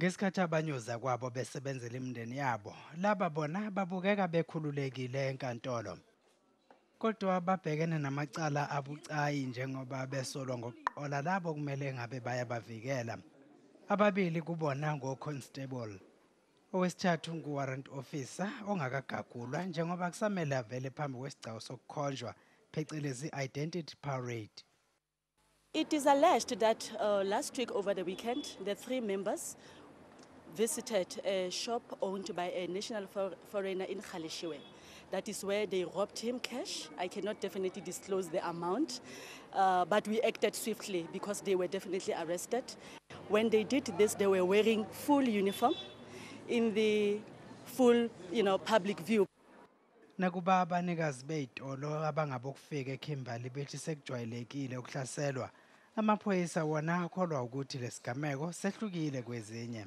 Ngesikhathi abanye ozakwabo besebenzela imindeni yabo, laba bona babukeka bekhululekile enkantolo. Kodwa babhekene namacala abucayi njengoba besolwa ngokuqola labo kumele ngabe bayabavikela. Ababili kubona ngoConstable. Owesithathu nguWarrant Officer ongakagagulwa njengoba kusamele avele phambi kwesigcawu sokukhonjwa, phecelezi Identity Parade. It is alleged that uh, last week over the weekend, the three members visited a shop owned by a national for foreigner in Khalishiwe. That is where they robbed him cash. I cannot definitely disclose the amount, uh, but we acted swiftly because they were definitely arrested. When they did this, they were wearing full uniform in the full you know, public view. Nakuba abanikazi bey'tolo abangabokufika eKimberley bethi sekujwayelekile ukuhlaselwa, amaphoyisa wona akholwa ukuthi lesigameko sehlukile kwezinye.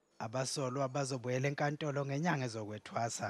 Abasolwa bazobuyela enkantolo ngenyanga ezokwethwasa.